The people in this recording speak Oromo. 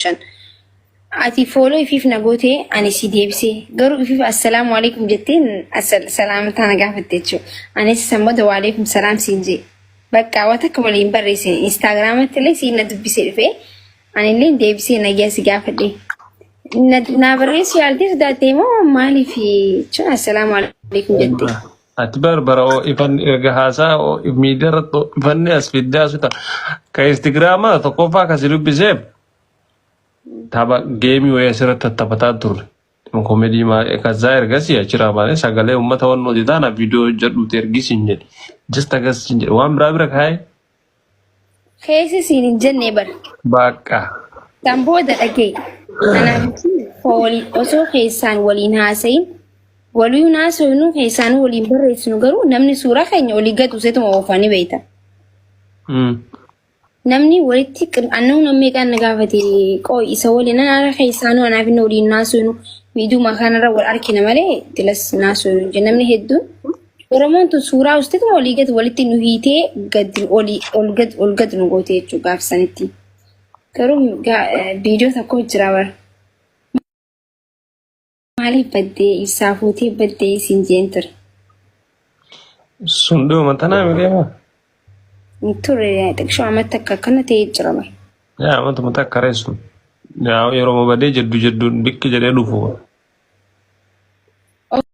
shan ati fooloo ifiif na gootee ani si deebisee garuu ifiif assalaamu alaikum jettee salaamtaa na gaafatte jechuudha. Anis san booda waaleekum salaam siin jee bakka waan takka waliin barreessine instaagiraamatti illee siin na dubbisee dhufee anillee deebisee nagyaa si gaafadhe. Na barreessu yaaltee sodaattee moo maaliif jechuun assalaamu alaikum jettee. Ati bar bara ifan erga haasaa miidiyaa irratti ifanne as fiddaa suta ka Instagraamaa tokkoffaa kan si dubbiseef tapha geemii wayii asirratti tattapataa turre. Komedii maa kazzaa ergasii achiraa baanee sagalee uummata waan nuti taana viidiyoo hojjedhuuti ergisiin jedhe. Just akkasiin jedhe waan biraa bira kaa'ee Keessa siin hin jennee bar. Baaqqa. Kan booda dhagee. Kanaaf fool osoo keessaan waliin haasayin walii naasofnu keessaan waliin barreessinu garuu namni suuraa keenya olii gatu setuma oofanii beekta. Mm. Namni walitti qir'annoo namni kan na gaafate qooy isa waliin ana keessaanuu anaaf inni waliin naasofnu miidhuma kanarra wal argina malee tilas naasofnu namni hedduun Oromoon tun suuraa ustituma olii gad walitti nu hiitee gad olii ol gad ol gad nu goote jechuudha gaaf sanitti. Garuu gaa- eh, viidiyoo tokko jira bara. Maaliif baddee isaa fuutee baddee isin jeen ture. Sun dhuma tanaa mi deema? Hin Ture xiqqoo amatti akka akkana ta'ee jira bara. Yaa amatuma takka reessu. Yaa yeroo badee jeddu jeddu bikki jedhee dhufu.